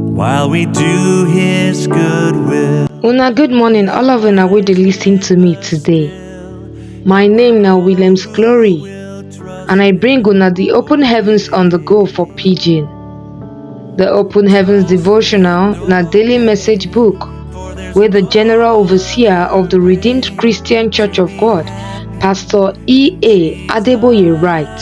while we do His good will. Una good morning, all of una wey dey lis ten to me today. My name na Williams Glory, and I bring una the Open Heavens on the Go for Pidgin. The Open Heavens devotional na daily message book wey the General Overseer of the Redeemed Christian Church of God, Pastor E.A. Adeboye write.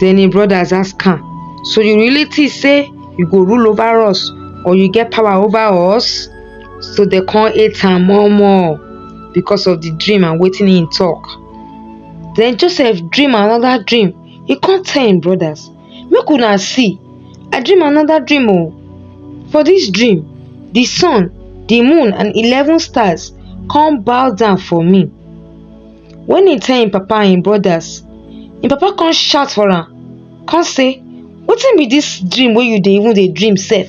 Den im brodas ask am, So you really think say you go rule over us or you get power over us? So dem come hate am more more because of the dream and wetin im talk. Den Joseph dream another dream, he come tell im brodas, Make una see, I dream another dream o. For this dream, the sun, the moon and eleven stars come bow down for me. When he tell him papa and him brothers, him papa come shout for am, come say, Wetin be this dream wey you dey even dey dream sef?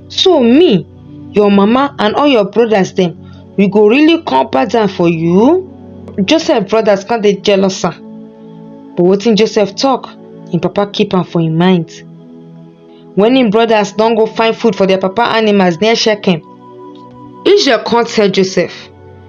So me, your mama and all your brothers dem, we go really come pass down for you? Joseph brothers come dey jealous am. But wetin Joseph talk, him papa keep am for him mind. When him brothers don go find food for their papa animals near Shechem, Israel come tell Joseph,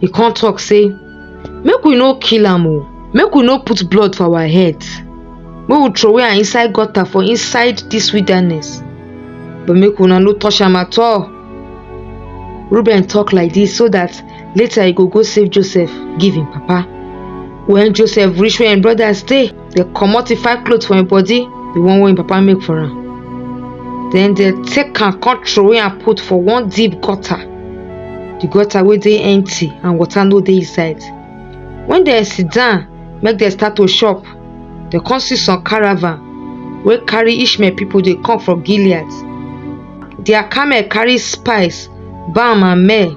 e come talk say make we no kill am oo make we no put blood for our head make we throway am inside gutter for inside this wilderness but make una no touch am at all reuben talk like this so that later he go go save joseph give him papa when joseph reach where him brothers dey dey comot the five cloth for im body the one wey im papa make for am then dey take am come throway am put for one deep gutter the gutter wey dey empty and water no dey inside when dem sit down make dem start to chop dem come see some caravan wey carry ishmael people dey come from gilead their camel carry spice balm and myrrh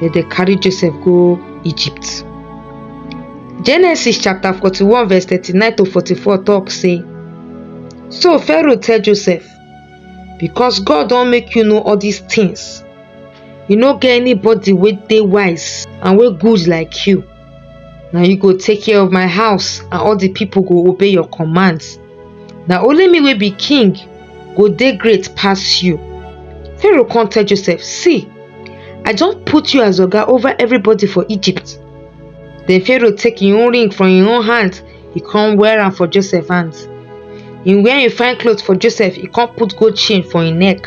dem dey carry joseph go egypt genesis chapter 41 verse 39 to 44 talk say so pharaoh tell joseph because god don make you know all these things you no get anybody wey dey wise and wey good like you na you go take care of my house and all the people go obey your commands na only me wey be king go dey great pass you pharaoh come tell joseph see i don put you as oga over everybody for egypt then pharaoh take him own ring from him own hand he come wear am for joseph hand him wear him fine cloth for joseph he come put gold chain for him neck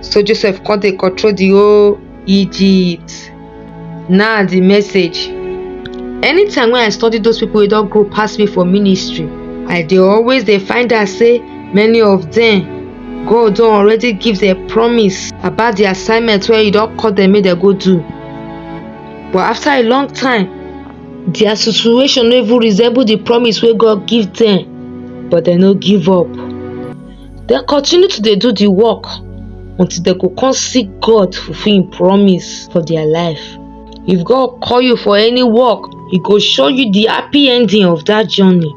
So Joseph come dey control the whole Egypt. Now the message. Anytime when I study those people wey don grow pass me for ministry, I dey always dey find out say many of them God don already give them promise about the assignment wey He don call them make dem go do. But after a long time, their situation no even resemble the promise wey God give them, but dem no give up. dem continue to dey do the work until dem go come see God fulfill him promise for their life. If God call you for any work, he go show you the happy ending of that journey.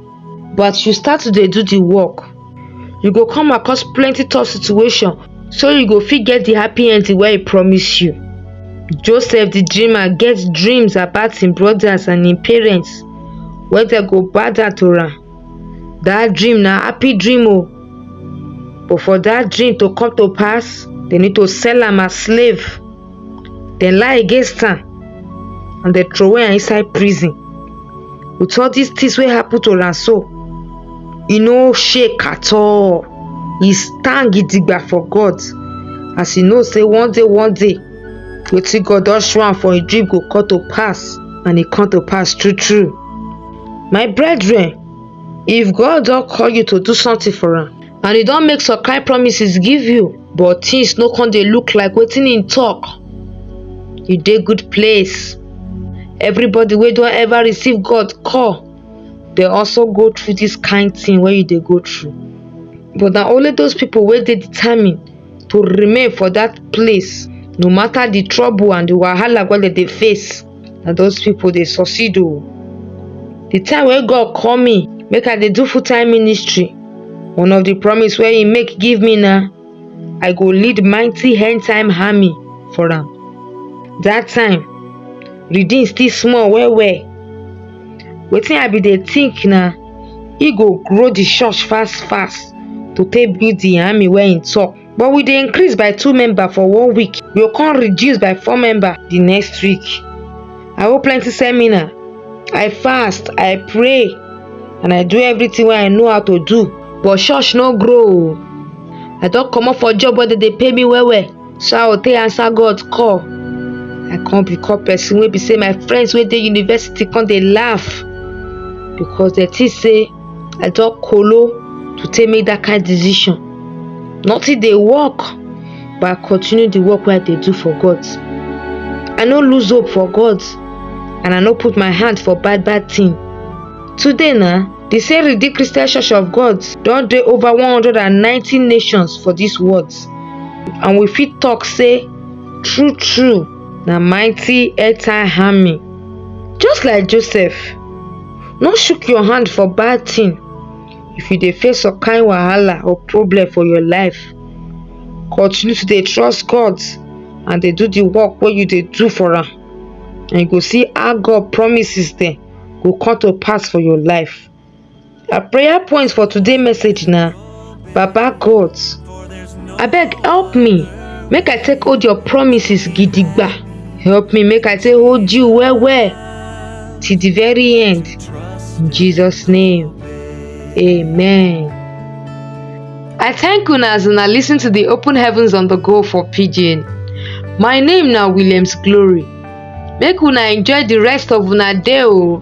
But as you start to dey do the work, you go come across plenty tough situation so you go fit get the happy ending wey he promise you. Joseph the dreamer get dreams about him brothers and him parents wey dem go bow down to am. that dream na happy dream o but for that dream to come to pass they need to sell am as slave then lie against am and they throw am inside prison with all these things wey happen to am so e no shake at all e stand gidigba for god as e know say one day one day wetin god don show am for im dream go come to pass and e come to pass true true My brethren, if God don call you to do something for am and he don make some kind promises give you but things no come dey look like wetin he talk, you dey good place. Everybody wey don ever receive God call dey also go through this kind thing wey you dey go through but na only those people wey dey determined to remain for that place no matter the trouble and the wahala wey dem dey face. na those people dey succeed o the time wey god call me make i dey do full time ministry one of the promise wey he make give me na i go lead mighty end time army for am that time redeem still small well well wetin i bin dey think na he go grow the church fast fast to take build the army wey he talk but we dey increase by two member for one week we go come reduce by four member the next week i hold plenty seminar i fast i pray and i do everything wey i know how to do but church no grow o i don comot for job wey dey dey pay me well well so i go take answer god call i come become person wey be say my friends wey dey university come dey laugh because dem think say i talk kolo to take make that kind decision nothing dey work but i continue the work wey i dey do for god i no lose hope for god and i no put my hand for bad bad thing today na the same redeemed christian church of god don dey over 190 nations for this world and we fit talk say true true na mighty earth time army just like joseph no shook your hand for bad thing if you dey face some kind wahala or problem for your life continue to dey trust god and dey do the work wey you dey do for am and you go see how god promises dem go come to pass for your life our prayer point for today message na Baba God, abeg help me make I take hold your promises gidigba. Help me make I take hold you well well till the very end. In Jesus' name, amen. I thank una as una listen to the Open Heavens on the Go for Pidgin. My name na Williams Glory. Make una enjoy the rest of una day o.